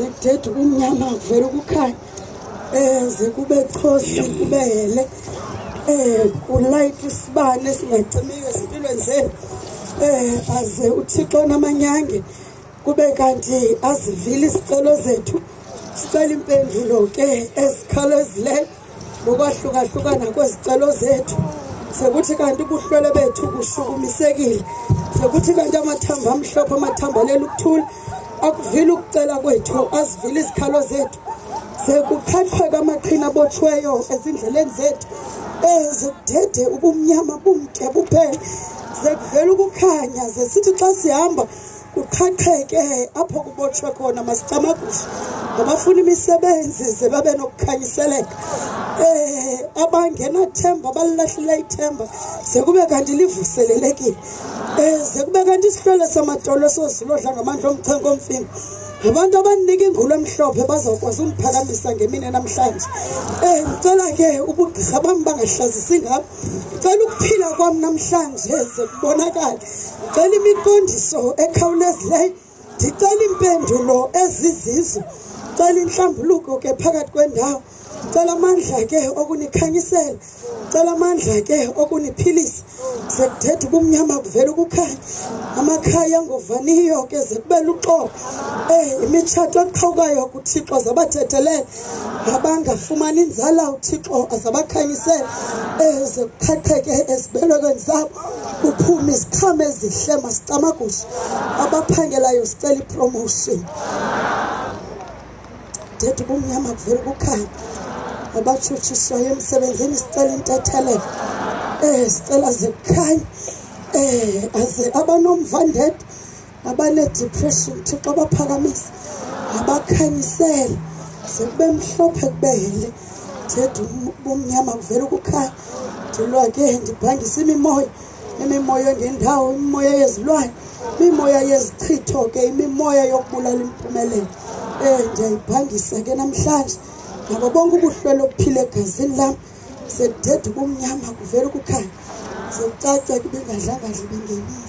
sekuthetha ubumnyama kuvela ukukhanya eze kube xosi kube hele um kulayitha isibane esingacimiyo ezimpilweni zenu um aze uthixo namanyange kube kanti azivile isicelo zethu sicela impendulo ke ezikhawulezileyo ngokwahlukahlukana kwezicelo zethu sekuthi kanti ubuhlwele bethu bushukumisekile sekuthi kanti amathambo amhlophe amathambo alele ukuthula akuvile ukucela kwethu azivile izikhalo zethu sekuqhaqheka amaqhina abotshweyo ezindleleni zethu ezidede ubumnyama bumde buphele sekuvela ukukhanya zesithi xa sihamba kuqhaqheke apho kubotshwe khona masicamagusha ngabafuna imisebenzi ze babe nokukhanyiseleka um abangenathemba balilahlela ithemba ze kube kanti livuselelekile um ze kube kanti isihlwele samadolo sozilodla ngamandla omchenko omfimba ngabantu abandinika ingulu emhlophe bazawukwazi undiphakamisa ngemini namhlanje um ndicela ke ubugqirha bam bangahlazisi ngabo ndicela ukuphila kwam namhlanje ze kubonakale ndicela imiqondiso ekhawulezileyo ndicela iimpendulo ezizizo ndicela inhlambuluko ke phakathi kwendawo ndicela amandla ke okunikhanyisela ndicela amandla ke okuniphilisa ze kuthetha ubumnyama kuvela ukukhanya amakhaya angovaniyo ke ze kube luxobo um imitshato eqhawukayo kuthixo zabathethelela abangafumani inzala uthixo azabakhanyisele eze kuqhaqheke ezibelekweni zabo kuphume iziqhama ezihle masicamagushe abaphangelayo sicela ipromotion ndethu ubumnyama kuvela ukukhanya abatshutshiswayo emsebenzini sicela intethelelo um sicela zikukhanye um aze abanomva ndedwa abaneedipreshini thixo abaphakamisa abakhanyisele sekube mhlophe kubehele ndithetha bomnyama kuvele ukukhaya ndilwa ke ndibhangisa imimoya imimoya engendawo imimoya yezilwane imimoya yezichitho ke imimoya yokubulala impumelelo um ndiyayibhangisa ke namhlanje ngabo bonke ubuhlwele obuphile egazini lam sekudeda ubumnyama kuvela ukukhanya sekucaca ke ibingadlanga dla ibingenile